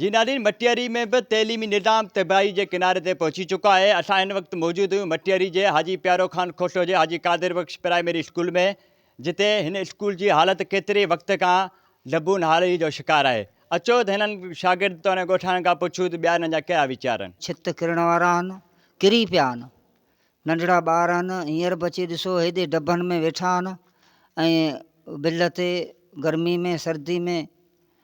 جينالين مٽياري ۾ به تعليمي نظام تباهي جي ڪناري تي پهچي چڪو آهي، اسان هن وقت موجود آهيون مٽياري جي حاجي پيارو خان کوٽو جي حاجي قادر بخش پرائمري اسڪول ۾ جتي هن اسڪول جي حالت ڪيتري وقت کان لبون حالي جو شڪار آهي اچو ته هنن شاگرد توڙي ڳوٺاڻن کان پڇون ته ٻيا هنن جا ڪهڙا ويچار آهن. ڇت ڪرڻ وارا آهن ڪري پيا آهن ننڍڙا ٻار آهن هينئر به اچي ڏسو هيڏي ڊڀن ۾ ويٺا آهن ۽ بل تي گرمي ۾ سردي ۾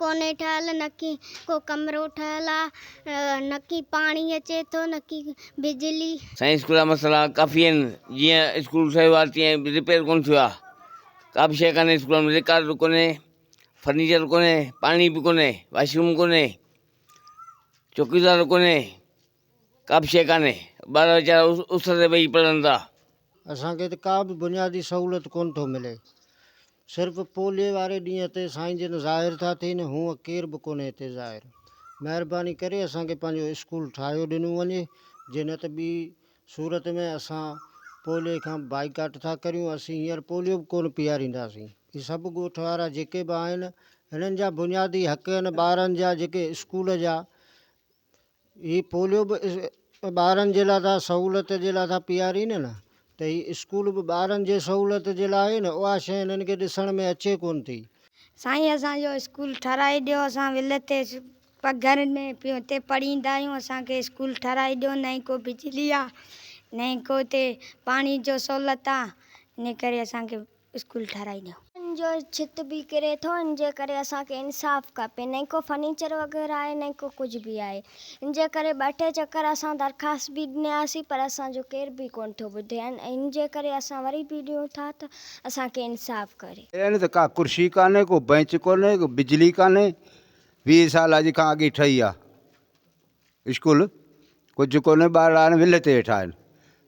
ڪونهي ٺهيل، نڪي ڪو ڪمرو ٺهيل آ، نڪي پاڻي اچي ٿو، نڪي بجلي. سائين اسڪول جا مسئلا ڪافي آهن جيئن اسڪول سهي وار تيئن رپيئر ڪونه ٿيو آ ڪابه شئي ڪانهي اسڪول ۾ رڪارڊ ڪونهي فرنيچر ڪونهي پاڻي به ڪونهي واشروم ڪونهي چوڪيدار ڪونهي ڪا به شيء ڪانهي، ٻارڙا ويچارا اس تي ويهي پڙهن ٿا. اسان کي ته ڪا به بنيادي سهولت ڪونه ٿو ملي. صرف پوليء واري ڏينهن تي سائين جن ظاهر ٿا ٿين، هونء ڪير به ڪونهي هتي ظاهر. مهرباني ڪري اسان کي پنهنجو اسڪول ٺاهيو ڏنو وڃي، جي نه ته ٻي صورت ۾ اسان پوليء کان بائيڪاٽ ٿا ڪريون، اسين هينئر پوليو به ڪونه پيارينداسين. هي سڀ ڳوٺ وارا جيڪي به آهن، هنن جا بنيادي حق هن ٻارن جا جيڪي اسڪول جا هي پوليو به ٻارن جي لاء ته سهولت جي لاء ٿا پيارين نه ته هي اسڪول به ٻارن جي سهولت جي لاء آهي نه اها شيء هنن کي ڏسڻ ۾ اچي ڪونه ٿي. سائين اسان جو اسڪول ٺهرائي ڏيو اسان ولت تي پگهر ۾ پيون اتي پڙهيندا آهيون اسان کي اسڪول ٺهرائي ڏيو نه ئي ڪو بجلي آهي نه ئي ڪو اتي پاڻي جو سهولت آهي ان ڪري اسان کي اسڪول ٺاراهيندو. ان جو ڇت به ڪري ٿو. ان جي ڪري اسان کي انصاف کپي. نه ئي ڪو فرنيچر وغيره آهي نه ئي ڪو ڪجهه به آهي. ان جي ڪري ٻه ٽي چڪر اسان درخواست به ڏنياسين پر اسان جو ڪير به ڪونه ٿو ٻڌي ۽ ان جي ڪري اسان وري به ڏيون ٿا ته اسان کي انصاف ڪري. ايئن ته ڪا ڪرسي ڪانهي، ڪو بئنچ ڪونهي، ڪو بجلي ڪانهي، ويهه سال اڄ کان اڳي ٺهي آ. اسڪول ڪجهه ڪونهي ٻارڙا هاڻي ول تي هيٺا آهن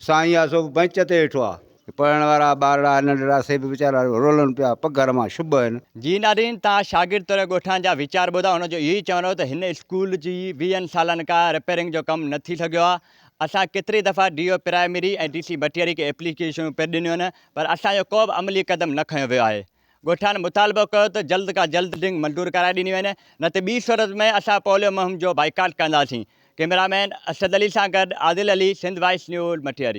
سائين آسو به بئنچ تي هيٺو آ پڙهڻ وارا ٻارڙا ننڍڙا سي به ويچارا رولن پيا پگهر مان شب هن. جي نادرين تان شاگرد توڙي ڳوٺان جا ويچار ٻڌا ان جو اهو ئي چوڻ هو ته هن اسڪول جي ويهن سالن کا رپيرنگ جو ڪم نه ٿي سگهيو آ اسان ڪيتري دفعا D O primary ۽ D C Bhatiari کي ايپليڪيشنون پڻ ڏنيون آهن پر اسان جو ڪو به عملي قدم نه کنيو ويو آهي ڳوٺاڻن مطالبو ڪيو ته جلد کان جلد ڊنگ منظور ڪرائي ڏني وڃي نه ته ٻي صورت ۾ اسان پوليو مهم جو بائيڪاٽ ڪنداسين، ڪئميرا مين اسد علي سان گڏ عادل علي، سنڌ وائس نيوز، مٺيري.